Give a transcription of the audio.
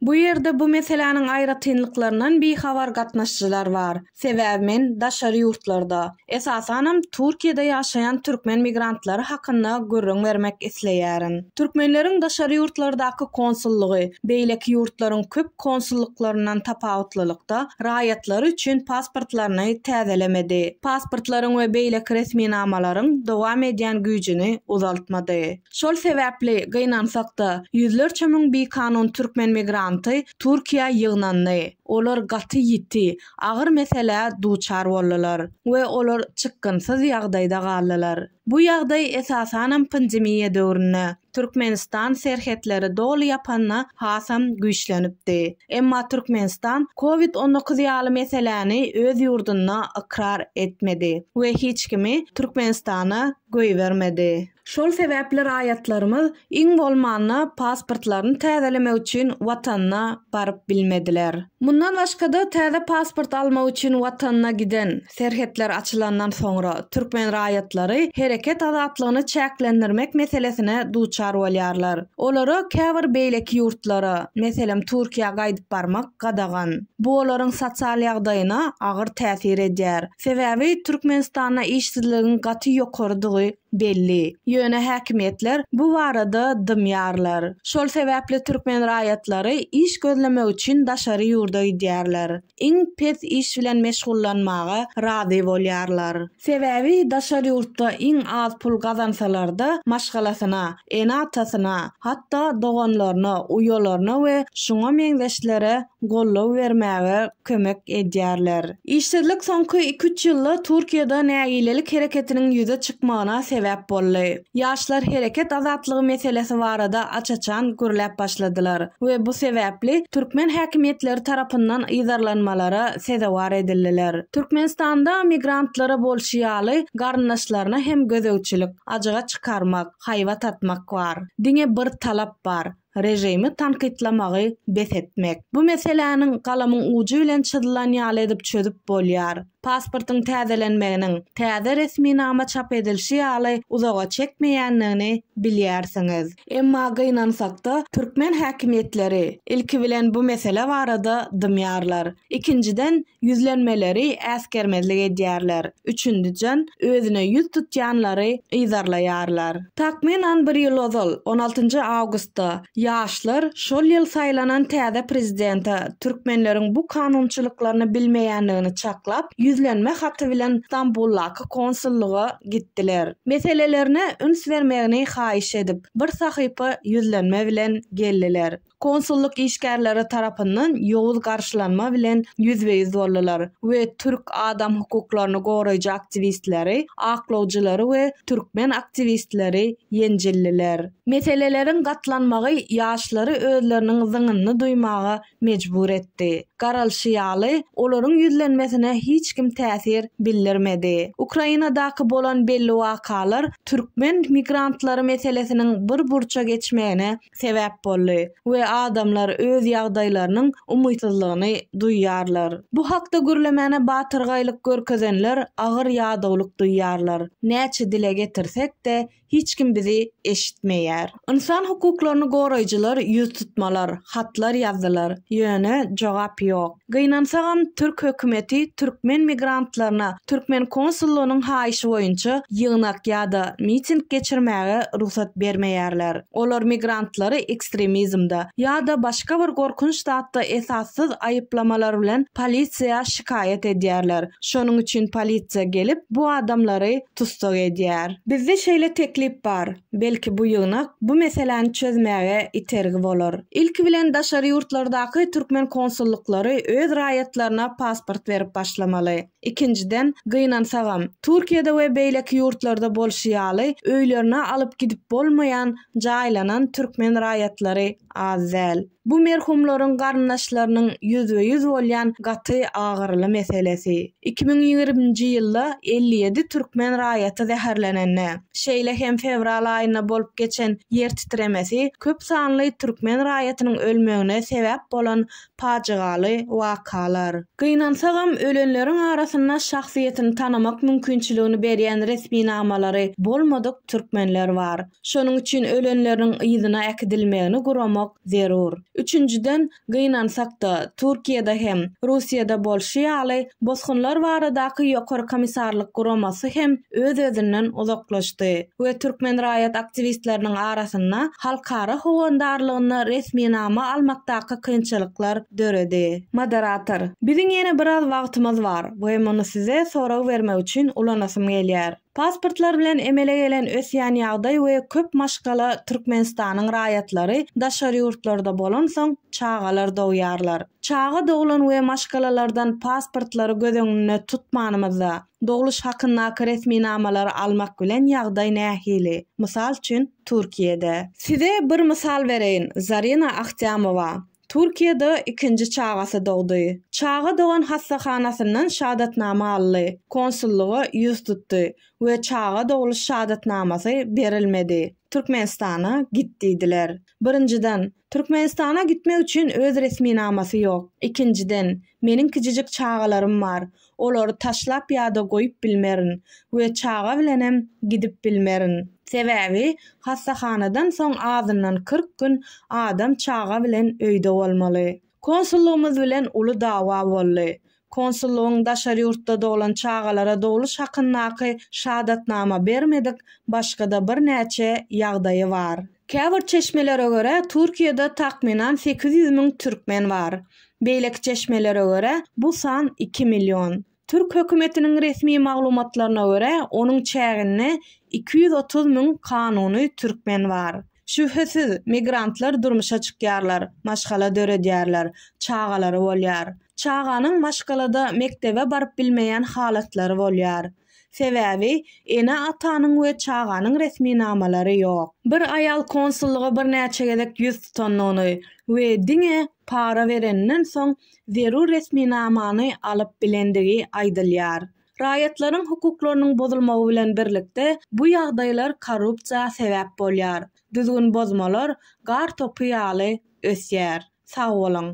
Bu ýerde bu meseläniň aýratynlyklaryndan bihabar gatnaşyjylar bar. Sebäbi men daşary ýurtlarda, esasanam Türkiýede ýaşaýan türkmen migrantlary hakynda gürrüň bermek isleýärin. Türkmenleriň daşary ýurtlardaky konsullygy beýleki ýurtlaryň köp konsullyklaryndan tapawutlylykda, raýatlary üçin pasportlaryny täzelemedi, pasportlaryň we beýleki resminamalaryň dowam edýän güýjüni uzaltmady. Şol sebäpli, gynansak-da, ýüzlerçe müň bikanun türkmen migranty Türkiýä ýygnandy. Olar gaty ýiti, agyr meselä duçar boldular we olar çykgynsyz ýagdaýda galdylar. Bu ýagdaý esasanam pandemiýa döwründe, Türkmenistan serhetleri doly ýapanda hasam güýçlenipdi. Emma Türkmenistan covid on dokuz ýaly meseläni öz ýurdunda ykrar etmedi we hiç kimi Türkmenistana goýbermedi. Şol sebäpli raýatlarymyz iň bolmanda pasportlaryny täzelemek üçin watanyna baryp bilmediler. Mundan başga-da täze pasport almak üçin watanyna giden, Serhetler açylandan soňra, türkmen raýatlary hereket azatlygyny çäklendirmek meselesine duçar bolýarlar. Olara käbir beýleki ýurtlara, meselem, Türkiýä gaýdyp barmak gadagan. Bu olaryň sosial ýagdaýyna agyr täsir edýär. Sebäbi Türkmenistanda işsizligiň gaty ýokarydygy belli. Ýöne häkimiýetler bu barada dymýarlar. Şol sebäpli türkmen raýatlary iş gözlemek üçin daşary ýurda gidýärler. iň pes iş bilen meşgullanmaga razy bolýarlar. Sebäbi daşary ýurtda iň az pul gazansalarda maşgalasyna, ene-atasyna, hatda doganlaryna, uýalaryna we şuňa meňzeşlere goldaw bermäge kömek edýärler. Işsizlik soňky iki-üç ýylda Türkiýede nägilelik hereketiniň ýüze çykmagyna sebäp boldy. Ýaşlar hereket azatlygy meselesi barada aç-açan gürläp başladylar we bu sebäpli türkmen häkimiýetleri tarapyndan yzarlanmalara sezewar edildiler. Türkmenistanda migrantlara bolşy ýaly garyndaşlaryna hem gözegçilik, ajyga çykarmak, haýbat atmak bar. Diňe bir talap bar, režimi tankytlamagy bes etmek. Bu meseläniň galamyň ujy bilen çyzylan ýaly edip çözüp bolýar. Pasportyň täzelenmeginiň, täze resminama çap edilşi ýaly uzaga çekmeýändigini bilýärsiňiz. Emma gynansakda, türkmen häkimiýetleri, ilki bilen, bu mesele barada dymýarlar. Ikinjiden, Ýüzlenmeleri äsgermezlik edýärler, üçündijan özüne ýüz tutýanlary yzarlaýarlar. Takmynan bir ýyl ozal, on altynjy awgustda, ýaşlar şol ýyl saýlanan täze prezidente türkmenleriň bu kanunçylyklaryny bilmeýändigini çaklap, ýüzlenme haty bilen Stambuldaky konsullyga gitdiler. Meselelerine üns bermegini haýyş edip, bir sahypa ýüzlenme bilen geldiler. Konsullyk işgärleri tarapyndan ýowuz garşylanma bilen ýüzbe-ýüz boldular we türk adam hukuklaryny goraýjy aktiwistleri, aklawjylary we türkmen aktiwistleri ýenjildiler. Meseleleriň gatlanmagy ýaşlary özleriniň zyňynyny duýmaga mejbur etdi. Garalyşy ýaly, olaryň ýüzlenmesine hiç kim täsir bildirmedi. Ukrainadaky bolan belli wakalar türkmen migrantlary meselesiniň bir burça geçmegine sebäp boldy we adamlar öz ýagdaýlarynyň umytsyzlygyny duýýarlar. Bu hakda gürlemäne batyrgaýlyk görkezenler agyr ýadawlyk duýýarlar. Näçe dile getirsek-de, hiç kim bizi eşitmeýär. Ynsan hukuklaryny goraýjylar ýüz tutmalar, hatlar ýazdylar, ýöne jogap ýok. Gynansagam, türk hökümeti türkmen migrantlaryna türkmen konsullygynyň haýyşy boýunça ýygnak ýa-da miting geçirmäge rugsat bermeýärler. Olar migrantlary ekstremizmde ýa-da başga bir gorkunç zatda esassyz aýyplamalar bilen polisiýa şikaýat edýärler. Şonuň üçin polisiýa gelip, bu adamlary tussag edýär. Bizde şeýle teklip bar, belki bu ýygnak bu meseläni çözmäge itergi bolar. Ilki bilen daşary ýurtlardaky türkmen konsullyklary öz raýatlaryna pasport berip başlamaly. Ikinjiden, gynansagam, Türkiýede we beýleki ýurtlarda bolşy ýaly öýlerine alyp gidip bolmaýan jaýlanan türkmen raýatlary az däl. Bu merhumlaryň garyndaşlarynyň ýüzbe-ýüz bolýan gaty agyryly meselesi. Iki müň ýigriminji ýylda elli ýedi türkmen raýaty zäherlenende, şeýle hem fewral aýynda bolup geçen ýer titremesi köp sanly türkmen raýatynyň ölmegine sebäp bolan pajygaly wakalar. Gynansagam, ölenleriň arasynda şahsyýetini tanamak mümkinçiligini berýän resminamalary bolmadyk türkmenler bar. Şonuň üçin ölenleriniň yzyna äkidilmegini guramak zerur. Üçünjiden, gynansak-da, Türkiýede hem, Russiýada bolşy ýaly, bosgunlar baradaky Ýokary komissarlyk guramasy hem öz-özünden uzaklaşdy we türkmen raýat aktiwistleriniň arasynda halkara howandarlygynda resminama almakdaky kynçylyklar döredi. Moderator, biziň ýene biraz wagtymyz bar we muny size sorag bermek üçin ulanasym gelýär. Pasportlar bilen emele gelen ösýän ýagdaý we köp maşgala Türkmenistanyň raýatlary daşary ýurtlarda bolansoň çagalar dogýarlar. Çaga doglan we maşgalalardan pasportlary göz öňünde tutmanymyzda, dogluş hakyndaky resminamalary almak bilen ýagdaý nähili? Mysal üçin, Türkiýede. Size bir mysal bereýin, Zarina Ahtyamova, Türkiýede ikinji çagasy dogdy. Çaga dogan hassahanasyndan şadatnama aldy, konsullyga ýüz tutdy we çaga dogluş şadatnamasy berilmedi. Türkmenistana git diýdiler. Birinjiden, Türkmenistana gitmek üçin öz resminamasy ýok. Ikinjiden, meniň kiçijik çagalarym bar. Olary taşlap ýa-da goýup bilmerin we çaga bilenem gidip bilmerin. Sebäbi hassahanadan soň azyndan kyrk gün adam çaga bilen öýde bolmaly. Konsullygymyz bilen uly dawa boldy. Konsullygyň daşary ýurtda doglan çagalara dogluş hakyndaky şadatnama bermedik başga-da birnäçe ýagdaýy bar. Käbir çeşmelere görä, Türkiýede takmynan sekiz ýüz müň türkmen bar. Beýleki çeşmelere görä, bu san iki million. Türk hökümetiniň resmi maglumatlaryna görä, onuň çäginde iki ýüz otuz müň kanuny türkmen bar. Şübhesiz, migrantlar durmuşa çykýarlar, maşgala döredýärler, çagalary bolýar. Çaganyň maşgalada mekdebe baryp bilmeýän halatlary bolýar. Sebäbi, ene-atanyň we çaganyň resminamalary ýok. Bir aýal konsullyga birnäçe gezek ýüz tutandygyny we diňe para bereninden soň zerur resminamany alyp bilendigi aýdylýar. Raýatlaryň hukuklarynyň bozulmagy bilen birlikde, bu ýagdaýlar korrupsiýa sebäp bolýar. Düzgün bozmalar gar topy ýaly ösýär. Sag boluň!